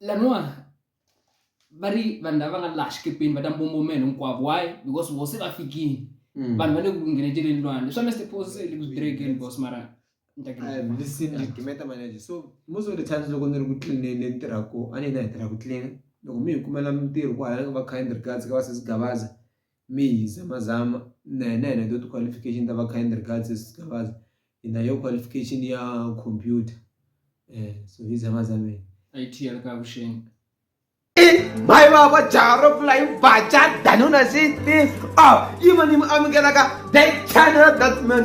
laniwa va ri vanhu lava va nga laha xikepeni va ta mbombomela hinkwavo why because vo se va fikile Mm. vanhu va le ku ngheneteleni lwandle swa mr pose le ku direkeni bos mara ni ta khensa. I've listened to Kimeta Manager. So most of the times loko ni ri ku tlineni ni tirhaka ko a ni hina hi tirha ku tlina loko mi hi kumela mintirho ku hala ni nga va kind regards ka va sesi Gabaza Mayhi, Zama Zama na yena hi na to ti-qualification ta va kind regards sis Gavaza hi na yo qualification ya computer eh so hi Zama Zama IT ya le ka Vuxeni mhayi va va jaha ro pfula yi vaca danuna sixteen a yi ma ni mi amukelaka that channel that man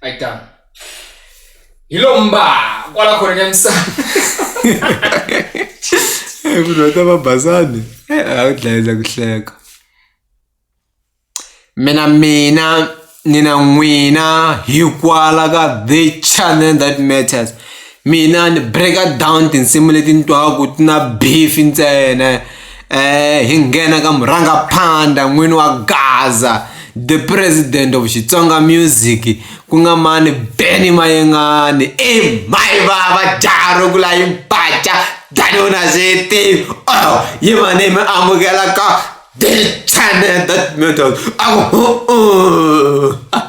a yi tano hi lomu mba kwala khona nyamisana munhu wa ta va basani a wu dlayisa ku hleka mina mina nina n'wina hikwala ka the channel that matters mina ni breaker down tinsimu leti ni twaku ti na beef ntsena um hi nghena ka murhangaphanda n'wini wa gaza the president of xitsonga music ku nga mani beny mayengani i mayi vava jaro ku la yi mpaca danona zeti o oh, yi mani mi amukela ka the channel that method aku uh, uh.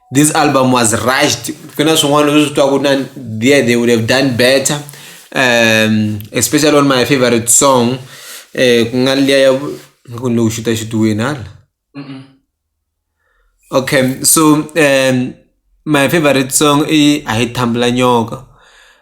this album was rushed ku na swin'wana leswi twaku na there they would have done better um, especially on my favorite song eh, ku nga liya ya vu- ku ni lo xuta xituweni hala okay so um, my favorite song i a hi thambula nyoka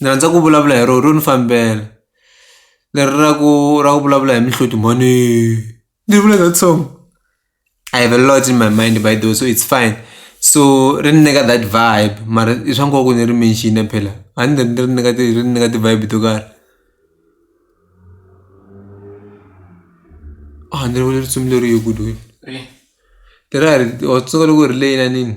ni rhandza ku vulavula hi rona ro ni fambela leri ra ku ra ku vulavula hi mihloti mhani ni vula that song I have a lot in my mind by the way so it's fine so ri ni nyika that vibe mara i swa nkoka ku ni ri mention phela a ni ri ri nyika ti ri ni nyika ti-vibe to karhi a ni ri vula risimu leriya good wena leriya ri wa swi tsundzuka loko hi ri le inaneni.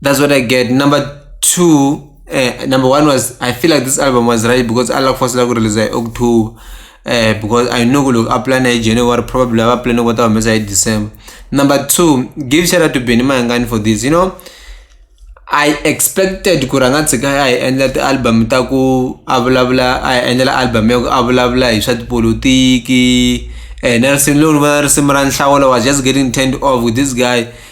that's what i get number two uh, number one was i feel like this album was right because allah forced la ku release hi october uh, because i know ku loko a plana hi january probably ava plane ku ta humesa hi december number two give shout out to benny mayangani for this you know i expected ku rhanga tshika a hi endla ti-album ta ku a vulavula a hi endlela album ya ku a vulavula hi swa tipolotiki and nelson lowu ni vona risimu ra nhlawulo was just getting turned off with this guy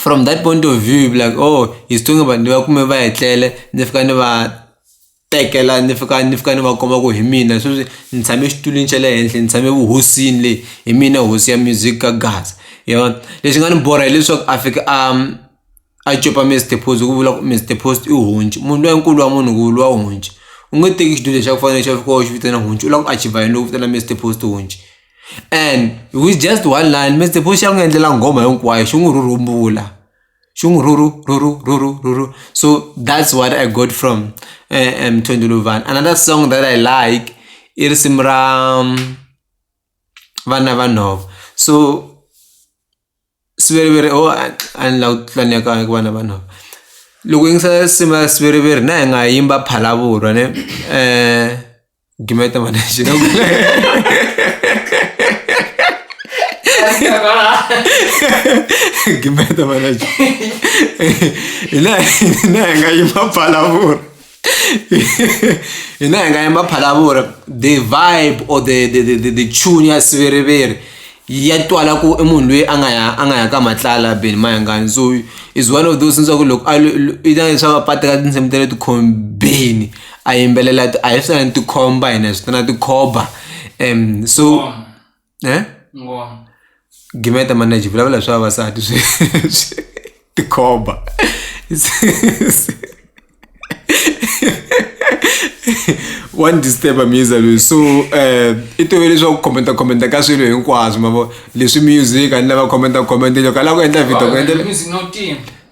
from that point of view you'll be like oh he's talking about ni va kume va etlele ni fika ni va tekela ni fika ni fika ni va komba ku hi mina sweswi ni tshame exitulwini xa le henhla ni tshame vuhosini le hi mina hosi ya music ka gaza hi vona lexi nga ni borha hileswaku a fika a a copa Mister Post hi ku vula ku Mister Post i honci munhu loyi nkulu wa munhu ku vuriwa honci u nge teki xitulu lexa ku fana na lexi a fika u xi vitana honci u lava ku achiever yini loko u vitana Mister Post honci. and with just one line mi xi ya n'wi endlela nghoma hinkwayo xi n'wi rhurumbula xi n'wi rhurhu rhurhu rhurhu rhurhu so that's what I got from Mthembu Luvhani another song that I like i risimu ra vana va nhova so. siviriviri oh a ni la ku titwa ni ya ka ku vana vanhu loko u yingisa nsimu ya siviriviri na hi nga yimba phalavurwa ne gimeta mhana xi gimeta mhana xi hina hina hi nga yimba phalavurwa hina hi nga yimba phalavuri the vibe or the the the the the tune ya siviriviri ya twala ku i munhu loyi a nga ya a nga ya ka matlala beni mayangani so is one of those leswaku loko a i ta leswaku a pata ka tinsimu ta le tikhombeni a yimbelela a hi swi na tikhomba hina hi swi tana tikhoba so. ne gimeta manage vulavula hi swa vavasati swi swi tikhomba wa ni disturba musa loyi so um eh, i tove leswaku commenta commenta ka swilo hinkwaswo mavo leswi music a ni lava commenta commenta loko a lava ku endla video ku endlela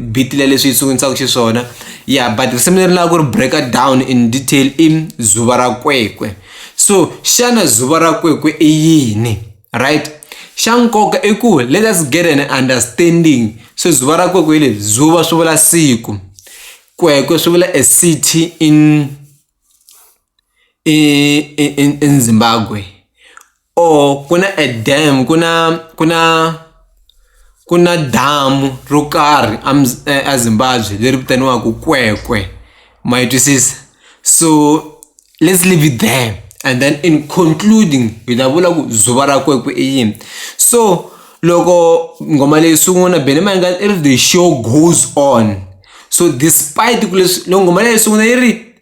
beat leyi leswi yi sungulaka xiswona ya but risimu leri ni lava ku ri breaker down in detail i dzuva ra kwekwe so xana dzuva ra kwekwe i yini right xa nkoka i ku let us get an understanding so dzuva ra kwekwe hi leri dzuva swi vula siku kwekwe swi vula a city in i i i i Zimbabwe or ku na a dam ku na ku na ku na damu ro karhi a a Zimbabwe leri vitaniwaka Kwekwe ma yi twisisa so let's leave it there and then in concluding hi ta vula ku dzovo ra Kwekwe i yini so loko nghoma leyi sungula Benny Mayengani i ri the show goes on so despite ku leswi loko nghoma leyi sungula yi ri.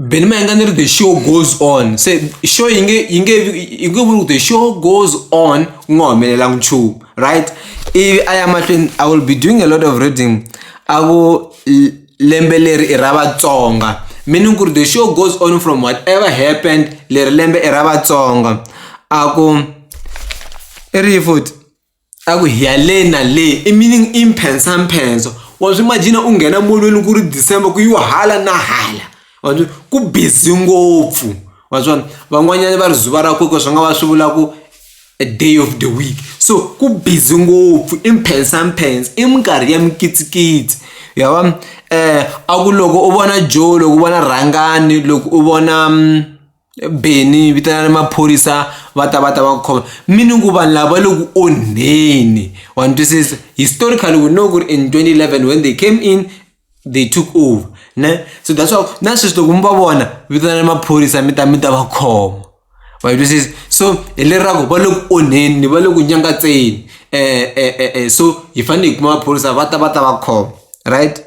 Benima yanga ni ri the show goes on se show yi nge yi nge yi nge vuli ku the show goes on ku nga humelelanga nchumu right ivi a ya mahlweni I will be doing a lot of reading a ku lembe leri i ra Vatsonga meaning ku ri the show goes on from whatever happened leri lembe i ra Vatsonga a ku i ri yini futhi. a ku hi ya le na le i meaning i mphensamphenso wa swi imagine u nghena molweni ku ri December ku yiwa hala na hala wa swi ku busy ngopfu wa swona van'wanyana va ri zuva ra kokwana swi nga va swi vula ku a day of the week so ku busy ngopfu i mphensamphensa i minkarhi ya mikitsikitsi ya vona a ku loko u vona Joe loko u vona rhangani loko u vona. Bennie vitanani maphorisa va ta va ta va ku khoma meaning ku vanhu lava le ku onheni wa ni twisisa historically we know ku ri in 2011 when they came in they took over ne so that's why na sweswi loko mi va vona vitanani maphorisa mi ta mi ta va khoma wa yi twisisa so hi leri ra ku va le ku onheni ni va le ku nyangatseni so hi fanele hi kuma maphorisa va ta va ta va khoma right.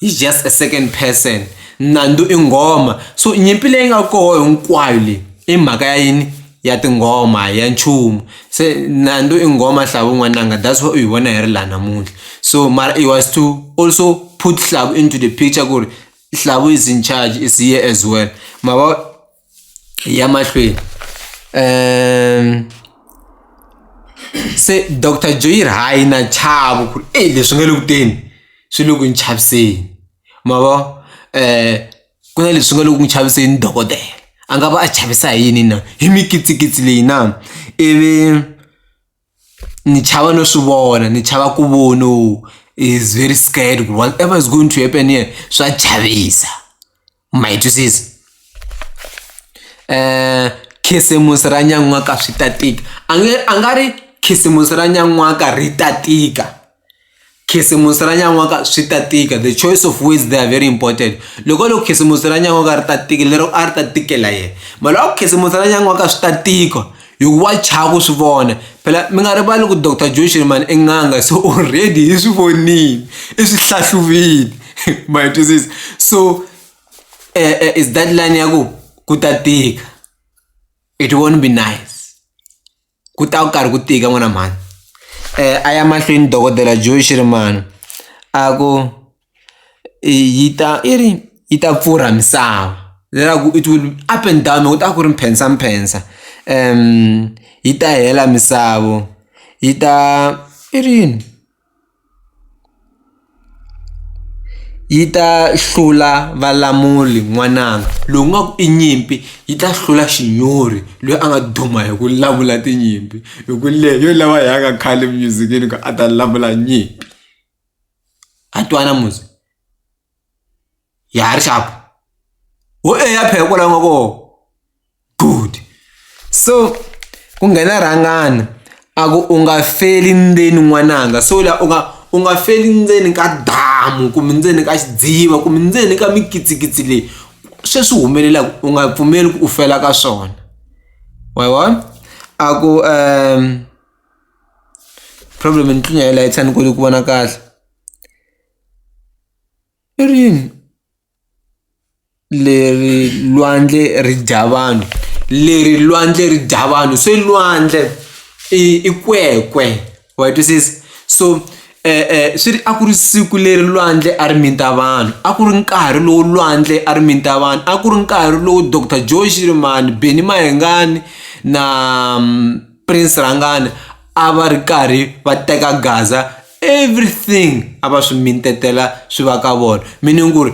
He's just a second person. Nandu i nghoma. So nyimpi leyi nga koho hinkwayo leyi i mhaka ya yini? Ya tinghoma ya nchumu. Se Nandu i nghoma Hlavu n'wananga that's why u yi vona hi ri laha namuntlha. So mara he was to also put Hlavu into the picture ku ri Hlavu is in charge is here as well ma vo. ya mahlweni um se doctor joyir hayi na chavo ku ri e leswi nga le ku teni swi le ku ni chaviseni ma vo um ku na leswi nga le ku n'wi chaviseni dokodela a nga va a chavisa hi yini na hi mikitsikitsi leyi na ivi. ni chava no swi vona ni chava ku vono is very scared ku whatever is going to happen here swa chavisa ma yi twisisa um khisimusi ra nyan'waka swi ta tika a nge a nga ri khisimusi ra nyan'waka ri ta tika khisimusi ra nyan'waka swi ta tika the choice of words they are very important loko loko khisimusi ra nyan'waka ri ta tika lero a ri ta tikela yena mali wa ku khisimusi ra nyan'waka swi ta tika hikuva chava ku swi vona phela mi nga rivali ku doctor joshini mani i n'anga so already hi swi vonile i swi hlahluvile ma yi twisisa so um is that line ya ku ku ta tika it won't be nice ku ta ku karhi ku tika n'wana mhani um a ya mahlweni dokodela Joe Shirimani a ku yi ta i ri yi ta pfurha misava leswaku it will up and down loko u ta ku ri mphensaphensa yi ta hela misava yi ta i ri yini. yi ta hlula valamuli n'wananga lowu nga ku i nyimpi yi ta hlula xinyori loyi a nga duma hi ku lamula tinyimpi hi ku leyi yo lava hi yaka khale music-ini ku a ta lamula nyimpi ha twana muzi. ya ha ri xapu ho e ya phela kwala u nga kona good so ku nghena rhangana a ku u nga feli ndzeni n'wananga so la u nga u nga feli ndzeni ka damu kumbe ndzeni ka xidziva kumbe ndzeni ka mikitsikitsi leyi sweswi humelelaka u nga pfumeli ku u fela ka swona wa yi vona a ku um problem ni tlinya hi layitshani koti ku vona kahle I rini leri lwandle ri dya vanhu leri lwandle ri dya vanhu se lwandle i i kwekwe wa yi twisisa so swi ri a ku ri siku leri lwandle a ri mita vanhu a ku ri nkarhi lowu lwandle a ri mita vanhu a ku ri nkarhi lowu doctor Joe Shirimani Benny Mayengani na Prince Rhangani a va ri karhi va teka gaza everything a va swi mintetela swi va ka vona meaning ku ri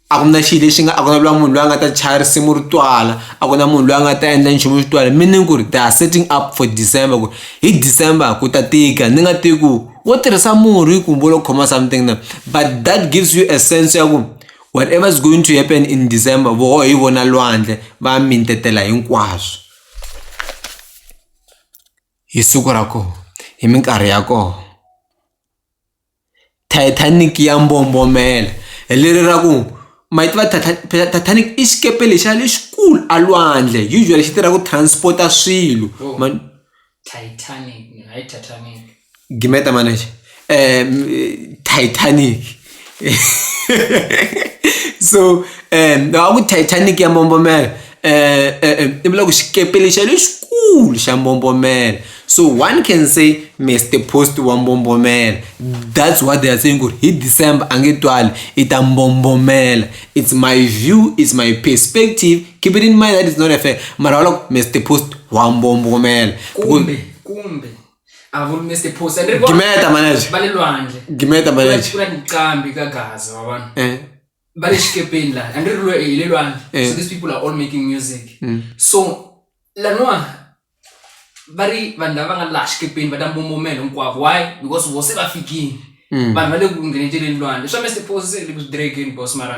a ku na xilo lexi nga a ku na lwa munhu loyi a nga ta chaya risimu ri twala a ku na munhu loyi a nga ta endla nchumu xi twala meaning ku ri they are setting up for december ku hi december ku ta tika ni nga tivi ku wo tirhisa murhi ku vo lo khoma something na but that gives you a sense ya ku whatever is going to happen in december voho hi vona lwandle va mintetela hinkwaswo hi siku ra koho hi minkarhi ya koho Titanic ya mbombomela hi leri ra ku ma yi tiva Titanic i xikepe lexiya lexikulu a lwandle usually xi tirha ku transport-a swilo ma . gimeta maana yake eh, m- eh, titanic so um loko ku titanic ya mbombomela eh, eh, eh, i vula ku xikepe lexa lexikulu xa mbombomela so one can say mr post wa mbombomela that's what they are saying ku ri hi december a nge twali i ta mbombomela it's my view it's my perspective keep it in mind that it's not a fair mara wa loko mr post wa mbombomela Because- kumbe kumbe a vuri mr posa ni ri vona gimeta manager va le lwandle gimeta manager ku na tiqambi ka gaza wa vanhu eh va le xikepeni laha a ni ri lwe hi le lwandle Eh. so these people are all making music Mm. so laniwa va ri vanhu lava nga laha xikepeni va ta mbombomela hinkwavo why because vo se va fikile Mm. vanhu va le ku ngheneteleni lwandle swa mr posa se le ku swi direkeni boss mara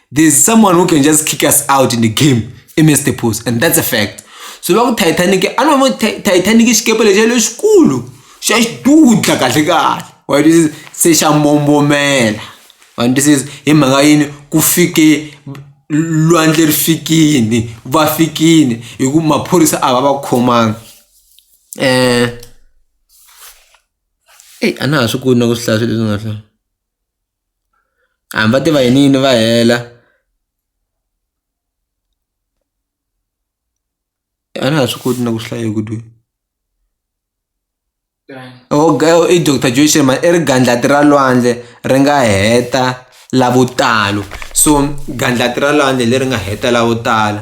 there's someone who can just kick us out in the game i miss the post and that's a fact so loko titanic a no titanic xikepe lexi lexikulu xa xidudla kahle kahle wa twisisa se xa mbombomela wa twisisa hi mhaka yini ku fike lwandle ri fikini va fikini hi ku maphorisa a va va khomanga um eyi a na ha swi koti na ku swi hlaya swi leswi nga hlaya hambi va tiva yini yini va hela a na ha swi koti na ku swi hlaya ku twe i doctor Joyce mhani i ri gandlati ra lwandle ri nga heta lavo tala so gandlati ra lwandle leri nga heta lavo tala.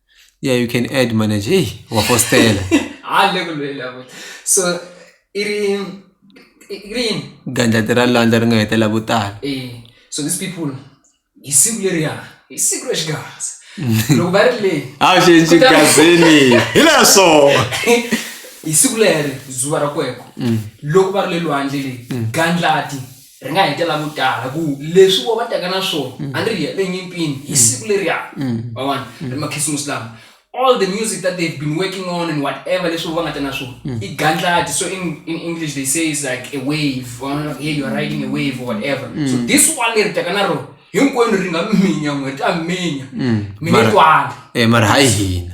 yeah you can add manager hey wafostela hayi le ku lwela futhi so i ri i ri yini gandlati ra landza ri nga hetela vo tala eh so these people hi siku leriya hi siku ra xigaza loko va ri le a xi xi gazini hi leswo hi siku leri zuva ra kweko loko va ri le lwandle le gandlati ri nga hetela vo tala ku leswi vo va taka na swona a ni ri yele nyimpini hi siku leriya ma vona ri makhisimusi lama all the music that they've been working on and whatever leswi vo va nga ta na swona i gandlati so in, in english they say is like a wave wa vona like hey you are riding a wave or whatever so this one leri taka na rona hinkwenu ri nga minya n'we ri ta minya mi nge Mara- twanga eh, mara hayi hina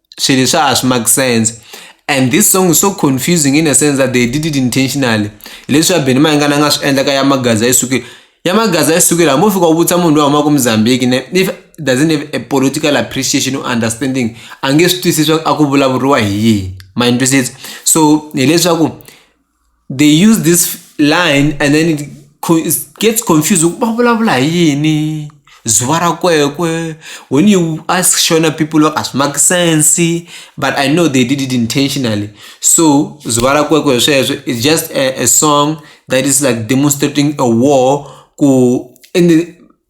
swilo swa ha swi make sense and this song is so confusing in a sense that they did it intentionally hileswi ya Benny Mayengani a nga swi endla ka ya Magaza yi sukile ya Magaza yi sukile hambi u fika u vutisa munhu loyi humaka Mozambique ne if doesn't have a political appreciation or understanding a nge swi twisisi a ku vulavuriwa hi yini ma ni twisisa so hileswaku they use this line and then it co- it gets confused va vulavula hi yini zuva ra kwekwe when you ask shona people va a swi make sense but i know they did it intentionally so zuva ra kwekwe sweswo it's just a, a song that is like demonstrating a war ku in the,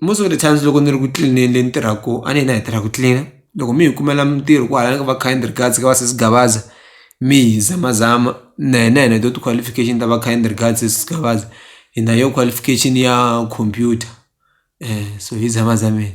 most of the times loko ni ri ku tlilineni le ni tirhaka ko a ni hina hi tirha ku tlilina loko mi hi kumela mintirho ku hala ka va kind regards ka va sesi Gavaza mi hi zamazama na hina hi na to ti-qualification ta va kind regards sesi Gavaza hi na yo qualification ya computer so hi zamazameni.